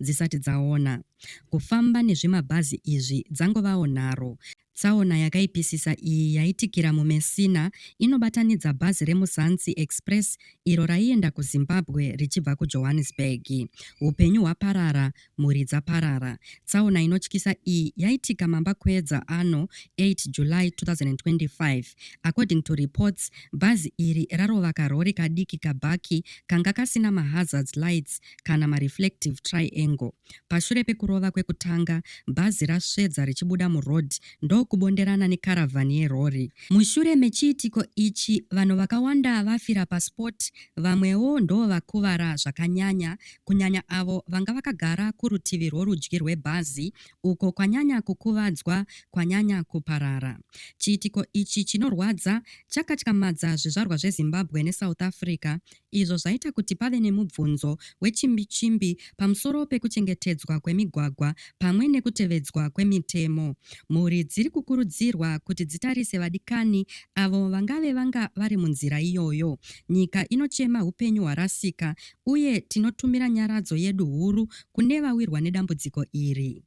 dzisati dzaona kufamba nezvimabhazi izvi dzangovawo nharo. Tsaona yakaipisisa iyi yaitikira muMessina inobatanidza bhazi reMuzansi Express iro raienda kuZimbabwe richibva kuJohannesburg. Upenyu hwaparara, mhuri dzaparara. Tsaona inotyisa iyi yaitika mambakwedza ano 8 July 2025. According to reports, bhazi iri rarova karori kadiki kabhaki kanga kasina mahazards lights kana mareflective triangle. Pashure pekurova kwekutanga, bhazi rasvedza richibuda muroad ndokubonderana nekaravhani yerori. Mushure mechiitiko ichi, vanhu vakawanda vafira paspot, vamwewo ndovakuvara zvakanyanya, kunyanya avo vanga vakagara kurutivi rworudyi rwebhazi, uko kwanyanya kukuvadzwa kwanyanya kuparara. Chiitiko ichi chinorwadza chakatyamadza zvizvarwa zveZimbabwe neSouth Africa izvo zvaita kuti pave nemubvunzo wechimbichimbi pamusoro pekuchengetedzwa kwemigwagwa pamwe nekutevedzwa kwemitemo. Mhuri dziri kukurudzirwa kuti dzitarise vadikani avo vangave vanga vari munzira iyoyo. Nyika inochema upenyu hwarasika uye tinotumira nyaradzo yedu huru kune vawirwa nedambudziko iri.